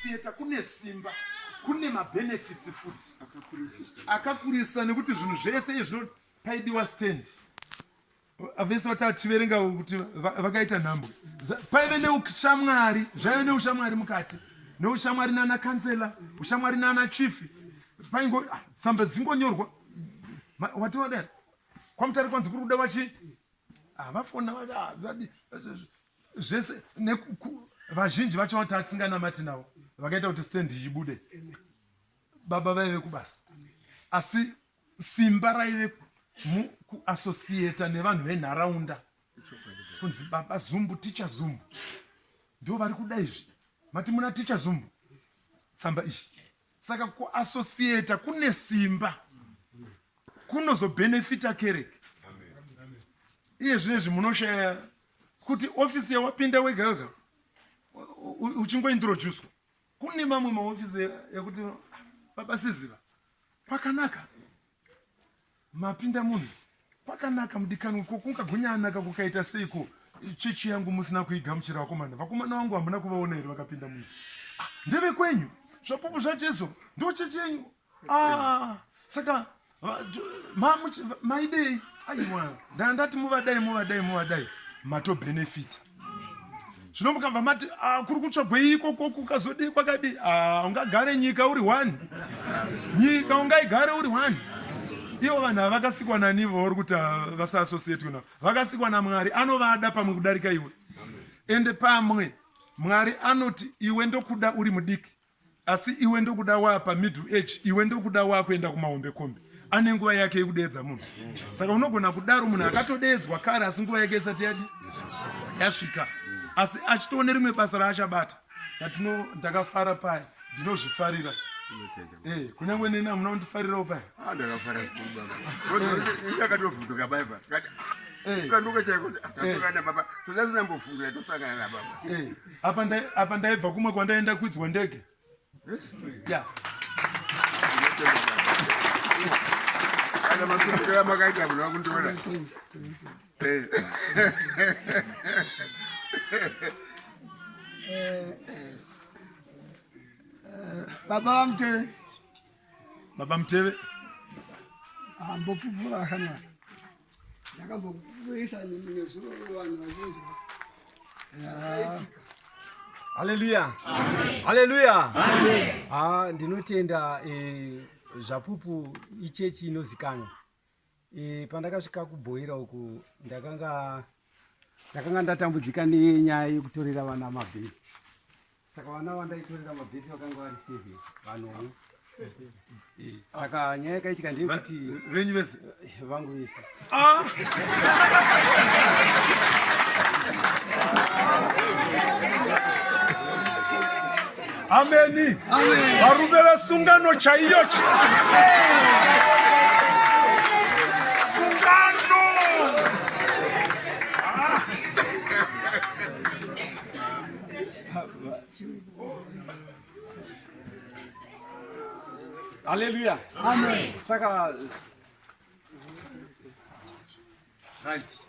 Theater kune simba kune mabenefits futi akakurisa nekuti zvinhu zvese izvi paidiwa stand vese vatativerenga kuti vakaita nhambwe paive neushamwari zvaive neushamwari mukati neushamwari nana kansela ushamwari nana chief paingo ah, tsamba dzingonyorwa wati wadai kwamutari kwanzi kuri kuda vachi ah, vafona ah, zvese vazhinji vacho vao tatisinganamati navo vakaita kuti stand ibude baba vaive kubasa asi simba raive kuassociata nevanhu venharaunda kunzi baba zumbu ticha zumbu ndo vari kuda izvi mati muna ticha zumbu tsamba izvi Saka ku associator kune simba kunozo benefita kereke iye zvinezvi munoshaya kuti ofisi yawapinda wega wega uchingointroducwa kune mamwe maofisi ekuti baba siziva kwakanaka Mapinda munhu kwakanaka mudikanwa ko kungagunya anaka kukaita seiko chechi yangu musina kuigamuchira vakomana vakomana vangu hamuna kuvaona here vakapinda munhu ah, ndeve kwenyu zvapupu zvajesu ndo chechi yenyu ah, saka maidei aiwa ndandati muvadai muvadai muvadai mato benefita zvino mukabva mati ah, kuri kutsvagwei ikoko kukazodii kwakadii ah, ungagare nyika uri one nyika ungaigare uri one ivo vanhu ava vakasikwa nani ivo vari kuti ah, vasaasosietwe navo vakasikwa namwari anovada pamwe kudarika iwe ende pamwe mwari anoti iwe ndokuda uri mudiki Asi iwe ndokuda wapa middle age iwe ndokuda wakuenda kumahombe kombe ane nguva yake yekudeedza munhu saka unogona kudaro munhu akatodeedzwa kare asi nguva yake isati yadi yasvika asi achitoone rimwe basa raachabata satino ndakafara paya ndinozvifarira eh, kunyange neni hamuna kundifarirawo paya ah, ndakatovhunduka paya pa eh. kanduka chaiko ah, eh. tasangana baba todasina mbofungira tosangana nababa apa ndai apa ndaibva kumwe kwandaenda kwidzwa ndege ya kana masukira makaita munhu vakundiona eh. eh, eh, baba vamuteve baba muteve ambopupura kana ndakambokuisa nezuro vanhu vazhinzwa zvakaitika haleluya haleluya ha ndinotenda eh, zvapupu ichechi inozikanwa eh, pandakasvika kubhoira uku ndakanga ndakanga ndatambudzika nenyaya yekutorera vana mabheki saka vana vandaitorera mabheti vakanga vari seven vanomwe saka nyaya yakaitika ndeyekuti venyu vese vangu vese ah! ameni varume vesungano chaiyo sungano ah! Hallelujah. Amen. Saka right.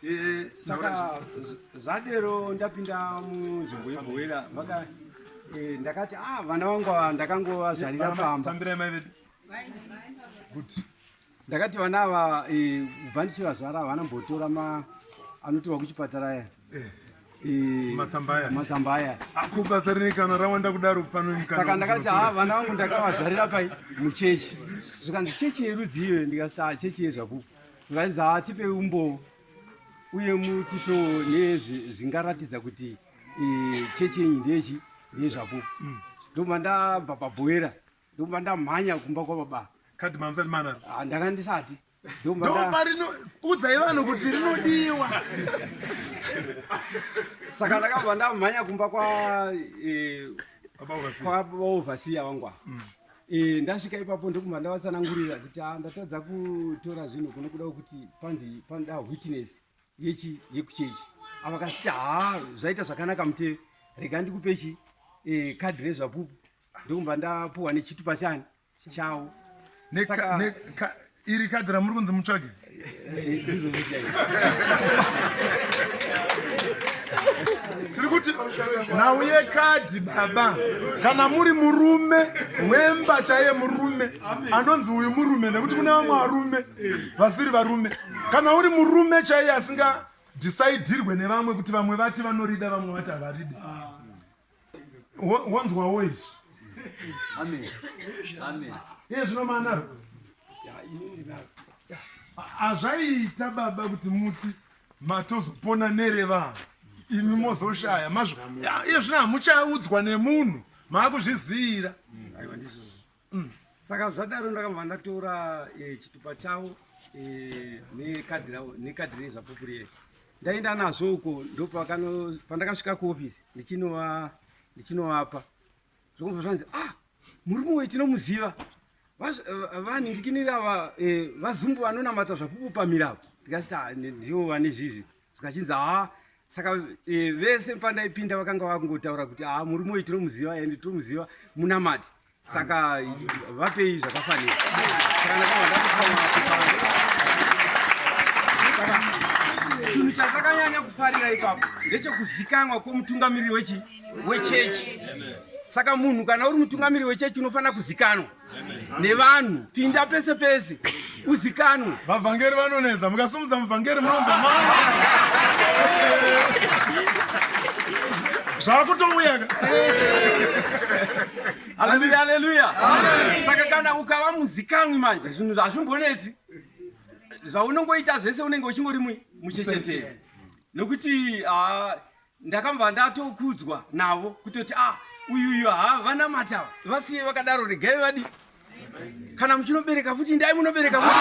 Eh, saka zvadero ndapinda munzvimbo yebhoera vaka eh, ndakati ah vana vangu ava ndakangovazvarira pamba. Tambirai mai vedu. Good. ndakati vana ava eh, kubva ndichivazvara havana mbotora ma anotorwa kuchipatara aya eh, eh, matsamba aya ah, kubasa rini kana rawanda kudaro panosaka ndakati ha ah, vana vangu ndakavazvarira pai muchechi zvikanzi chechi yerudzi iyo ndikasita ah, chechi yezvapupu zvikanzi ha tipe umbowo uye mutipewo nezvingaratidza kuti chechi yenyu ndechi ndezvapupu mm. ndobva ndabva pabhoera ndokubva ndamhanya kumba kwababa kadi mamusati manaro ah, ndanga ndisati ndoparino udzai vanhu kuti rinodiwa saka ndakabva ndamhanya kumba kwa eh, kwaovhasiya wangwa mm. eh, ndasvika ipapo ndokubva ndavatsanangurira kuti ah, ndatadza kutora zvinhu kunokuda kuti panzi panoda witness yechi yekuchechi avakasiti haa zvaita zvakanaka muteve rega ndikupechi eh, kadhi rezvapupu Ndokubva ndapuwa nechitupa chani chawo. Saka iri kadhi ramuri kunzi mutsvage. Tiri kuti nhau yekadhi baba kana muri murume wemba chaiye murume anonzi uyu murume nekuti kune vamwe varume vasiri varume kana uri murume chaiye asinga dhisaidirwe nevamwe kuti vamwe vati vanorida vamwe vati havaridi wonzwawo izvi iye zvino maanaro hazvaiita baba kuti muti matozopona nerevava imi mozoshaya mazvo iye zvino hamuchaudzwa nemunhu maakuzviziyira Mm. Saka zvadaro ndakabva ndatora e, chitupa chavo e, eh, nekadhi ravo nekadhi rezvapupu riye ndaenda nazvo uko ndopakano pandakasvika kuofisi ndichinova ndichinovapa zvokubva zvanzi ah murume uyu tinomuziva eh, vanhindikinira va, e, vazumbu vanonamata zvapupu pamiravo ndikasita ah, ndivo vane zvizvi zvikachinzi haa saka e, vese pandaipinda vakanga vakungotaura kuti haa murume uyu tinomuziva ende tinomuziva munamati saka vapei zvakafanira chinhu chatakanyanya kufarira ipapo ndechekuzikanwa kwomutungamiriri wechi wechechi saka munhu kana uri mutungamiriri wechechi unofanira kuzikanwa nevanhu pinda pese pese uzikanwe vavhangeri vanonetsa mukasumudza muvhangeri munomba zvakutouya haleluya haleluya saka kana ukava muzikanwi manje zvinhu zvazvimbonetsi zvaunongoita zvese unenge uchingori muchecheteri nokuti ah, Ndakambva ndatokudzwa navo kutoti ah uyu uyu ha vanamata vasiye vakadaro regai vadi kana muchinobereka futi ndai munobereka futi